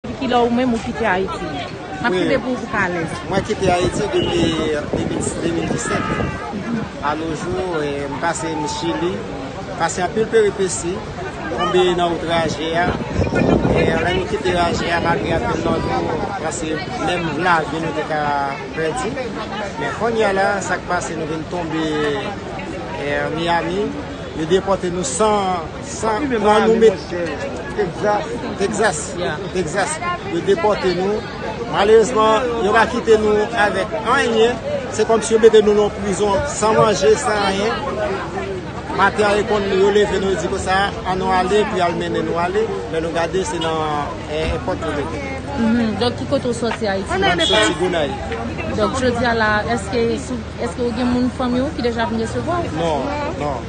Depi kilè ou menm ou kite Ayiti? Map kite pou ou pou ka alèz. Mwen kite Ayiti depi 2017. A no jou, m pase m Chili, m pase anpil peripesi, tonbe nan outraje a. Lè nou kite raje a, malgre anpil nan nou pase menm lavi nou te ka pèdi. Men konnya la, sak pase nou vin tonbe Miami, yo depote nou san. Sa pran nou met Texas Texas yo depote nou Malerezman yo pa kite nou avek anyen Se kom si yo mete nou nan prizon san manje san anyen Maten an reponn nou yo leve nou yo di konsa An nou ale pou yal mennen nou ale Lè nou gade se nan èpòt yo mete nou Donk ki kote ou soti Ayiti? Mwen soti Gonayiv Donk jodi a la eske ou gen moun fanmi ou ki deja vin resevwa ou? Non non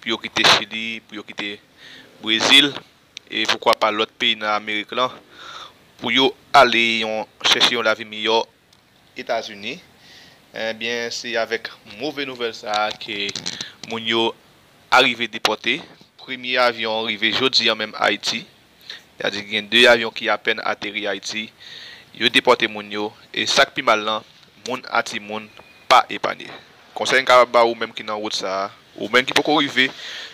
pou yo kite Chili, pou yo kite Brezil, e poukwa pa lòt peyi nan Amerik lan, pou yo ale yon chèche yon lavi miyò Etazini, enbyen se avèk move nouvèl sa a ke moun yo arive depòte, premye avyon rive jodi an menm Ayiti. Ya di gen 2 avyon ki apèn ateri Ayiti, yo depòte moun yo, e sak pi mal lan, moun a ti moun pa epanye. Konsèy m kapab ba ou menm ki nan wout sa a, ou menm ki poko rive,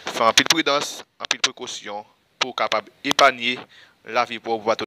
fè anpil pridans, anpil prekosyon pou w kapab epanye lavi pa w.